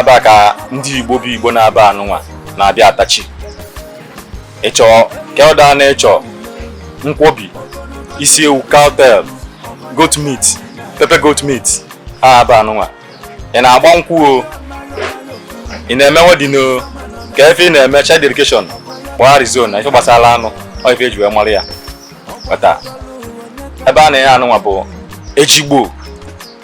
ebe a ka ndị igbo bụ igbo n'ebe a nụnwa na-abịa atachi ịchọ ke ọla ị na-achọ nkwobi isi ewu cowtail goat meat pepper goat meat ha ebe a nụnwa ị na-agba nkwụ o ị na-eme wedding o ka ife ị na-eme child dedication kpọọ arizona ife gbasara anụ ọ ife eji wee mara ya bata ebe a na-enye anụnwa bụ ejigbo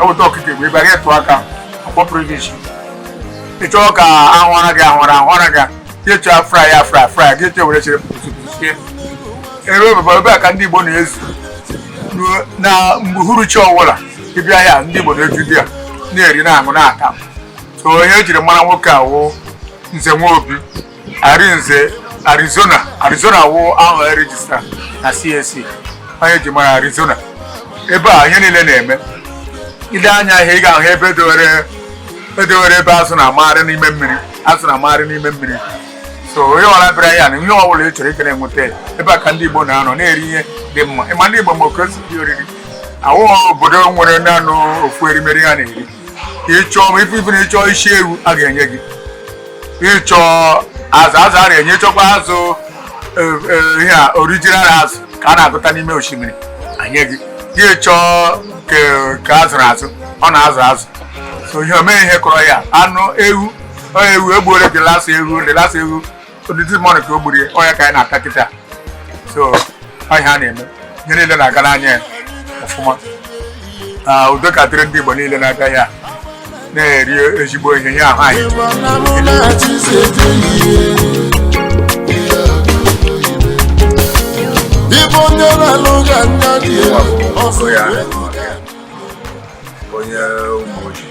eweta ọkụkọ igbo ị bịa gị tụọ aka ọ kpọpụrụ gị isi ị chọọ ka a hụra gị a hụra a hụra gị gị chọọ a fry ya a fry a fryara gị chọọ were chere pepper soup sie ebe ebebe ebe a ka ndị igbo na-ezu na mgbe uhuruchi ọwụla ị bịa ya ndị igbo na-eju di ya na-eri na-aṅụ na-ata so ihe e jiri mara nwoke a wụ nze nwobi Arinze Arizona Arizona wụ aha e rejista na CAC onye e ji mara Arizona ebe a ihe niile na-eme i lee anya ihe ị ga-ahụ ebe edowere edowere ebe azụ na-amagharị n'ime mmiri azụ na-amagharị n'ime mmiri so onye ọla bịara ya na ihe ọ bụla ị chọrọ ị ga na-enweta ya. ebe a ka ndị Igbo na-anọ na-eri ihe dị mma ị ma ndị Igbo ma oke osi dị oriri awụghọ obodo nwere naanị ofu erimeri ha na-eri ka ị chọọ ma ife ife na ị chọọ isi ewu a ga-enye gị ị chọọ azụ azụ a na-enye chọkwa azụ e, e, ihe a original azụ ka a na-akụta n'ime osimiri e nye gị gị chọọ ke- ka a zụrụ azụ ọ na-azụ azụ so ihe omee ihe kọrọ ya anụ ewu ọ ewu egbuole the last ewu the last ewu ọ this morning ka o gburu ya ọ ya ka anyị na-ata kịta so ọ ihe a na-eme ihe niile na-agara anyị ọfụma na udo ka dịrị ndị Igbo niile na-abịa ya na-eri ezigbo ihe ihe ahụ anyị ibe onye na-alụ ga anya dị ya ọsọ ya onye ụmụ ojii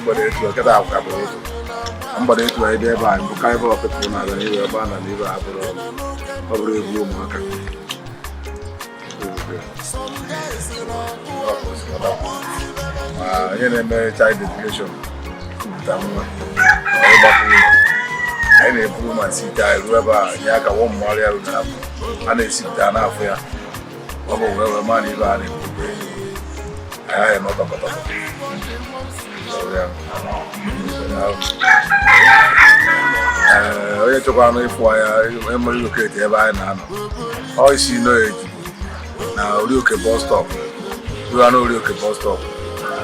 mgbede etu a kịta akwụkwọ abụrụ ụzọ mgbede etu a ebe ebe a mbụ karịba ọkụkụ na-aga n'ihu ebe a na n'ihu abụrụ ọrụ ọ bụrụ egwu ụmụaka ma onye na-eme child dedication kupụta nwa ịgba nkwụ o anyị na-eburu ma site anyị ruo ebe a nye aka wọ mmụọrịa rụ na-abụ a na-esipụta n'afọ ya ọ bụ wee wee mara ebe a na-ekwukwe anyị nọ tọkọtọkọ onye chọkwanụ ịfụ anyị emere locate ebe anyị na-anọ ọ isi nọ eji na orioke bus stop ruo na orioke bus stop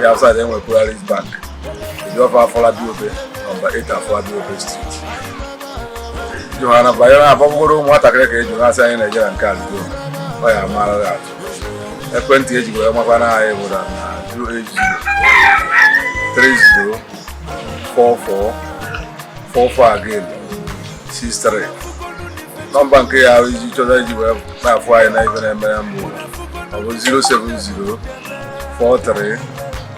ya afụ side e nwe polaris bank e jụọ fa afolabi obe nọmba 8 afolabi obe street jụrụ ha na banyere ha ọ bụgodu nwatakịrị ka e jụrụ a sị anyị na-eje na nke a ludo ọ ya mara gị atụ ekwentị e ji wee makwana anyị bụ na 080 30 44 44 again 63 nọmba nke ya iji chọta iji wee na-afụ anyị na ibe na-eme na mbụ ọ bụ 070 43